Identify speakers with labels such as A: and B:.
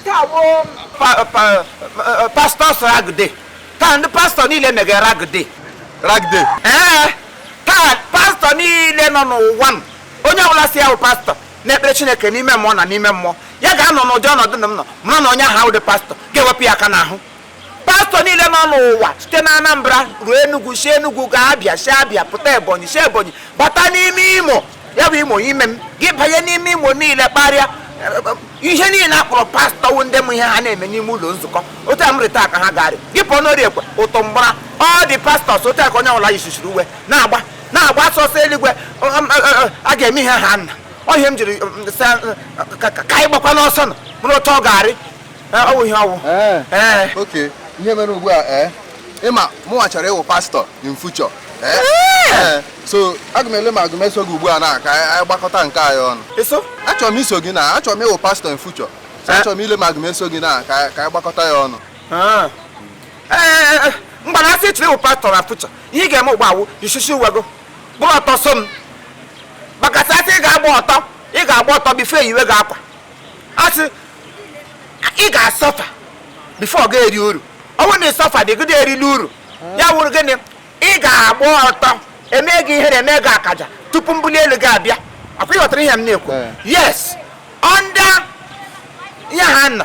A: nke a bụ pa- pa- eh, pastors rag day taa ndị pastọ niile mege rag day rag day ee taa pastọ niile nọ n'ụwa m onye ọbụla sị ya wụ pastọ na-ekpere chineke n'ime mmụọ na n'ime mmụọ ya ga-anọ n'ụdị ọnọdụ na m nọ mara na onye ahụ awụdị pastọ ga-ewepụ ya aka n'ahụ pastọ niile nọ n'ụwa site na anambra ruo enugwu si enugwu gaa abia si abia pụta ebonyi si ebonyi bata n'ime imo ya bụ imo ime m gị banye n'ime imo niile kparịa ihe niile a kpọrọ pastọ wụ ndị m ihe ha na-eme n'ime ụlọ nzukọ otu a m rị taa ka ha ga-arị gị pụọ n'orie ekwe ọtọ m gbara all the pastors otu aka onye ọbụla yisisiri uwe na-agba na-agba ọsọ eluigwe a ga-eme ihe ha nna ọ ihe m jiri ka anyị gbakwa n'ọsọ na ọ bụrụ otu ọ ga-arị Ee, ọ wụ ihe ọ wụ. Ee. Ee. Okay. Ihe
B: mere ugbu a ee ị ma mụnwa chọrọ ịwụ pastọ in future. Ee. Ee. So aga m ele ma aga m eso gị ugbu a na ka anyị gbakọta nke anyị ọnụ. Eso? Achọrọ m iso
A: gị na
B: achọrọ m ịwụ pastọ in future. So achọrọ m ile ma aga m eso gị na ka ka anyị gbakọta ya ọnụ. Ah. Ee,
A: ee, mgbe na a sị ị chọrọ ịwụ pastọ na future, ihe ị ga-eme ugbu a wụ isisi uwe gị, bụrụ ọtọ so m. Because a sị ị ga-agba ọtọ, ị ga-agba ọtọ before e yiwe gị akwa. A sị ị ga-asọfa before ị ga-eri uru ọ wụrụ na ị sọfadị gịdị erile uru ya wụrụ gịnị ị ga-agba ọtọ e mee gị ihere e mee gị akaja tupu mbuli elu gị abịa a kwa ị ghọtara ihe m na-ekwu eh. yes ọ nda ihe ha nọ